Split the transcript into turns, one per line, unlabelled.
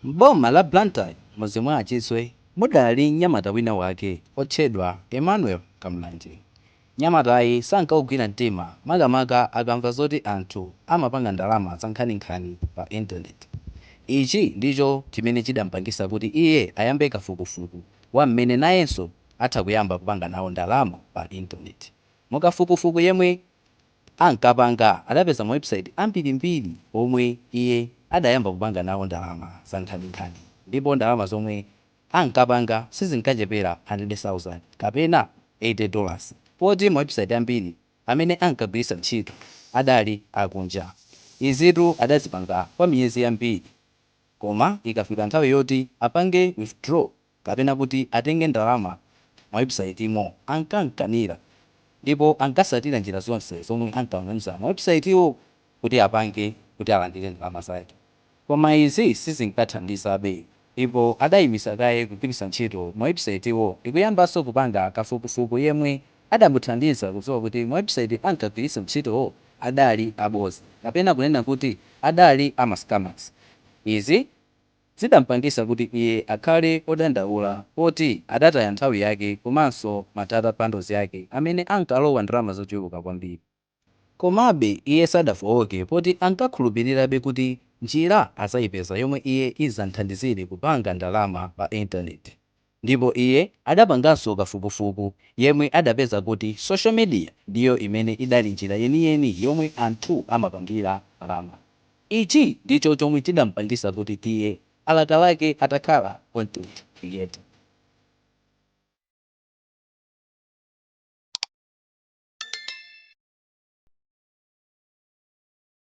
M'boma la Blantyre m'mudzi mwa a Chiswe mudali mnyamata wina wake otchedwa Emmanuel Kamulanje. Mnyamatayi sankaugwira mtima makamaka akamva zoti anthu amapanga ndalama zankhaninkhani pa intaneti. Ichi ndicho chimene chidampangisa kuti iye ayambe kafukufuku wa m'mene nayenso atha kuyamba kupanga nawo ndalama pa intaneti. Mukafukufuku yemwe ankapanga adapeza ma website ambirimbiri omwe iye adayamba kupanga nawo ndalama zankhaninkhani ndipo ndalama zomwe ankapanga sizinkachepera 100,000 kapena 80 dollars poti ma website ambiri amene ankagwiritsa ntchito adali akunja. Izitu adazipanga kwa miyezi yambiri koma ikafika nthawi yoti apange withdraw kapena kuti atenge ndalama mawebusaitimo ankam'kanira ndipo ankatsatira njira zonse zomwe ankamuuza mawebusaitiwo kuti apange kuti alandire ndalama zake. Koma izi sizinkathandizabe ndipo adaimitsa kaye kugwiritsa ntchito mawebusaitiwo ndikuyambanso kupanga kafukufuku yemwe adamuthandiza kudziwa kuti mawebusaiti ankagwiritsa ntchitowo adali abodza kapena kunena kuti adali a ma scammers. Izi zidampangisa kuti iye akhale odandaula poti adataya nthawi yake komanso ma data bundles yake amene ankalowa ndalama zochuluka kwambiri. Komabe iye sadafooke poti ankakhulupilirabe kuti njira azayipeza yomwe iye izam'thandizire kupanga ndalama pa intaneti. Ndipo iye adapanganso kafukufuku yemwe adapeza kuti social media ndiyo imene idali njira yeniyeni yomwe anthu amapangira ndalama. Ichi ndicho chomwe chidampangisa kuti iye alakalake atakhala content creator.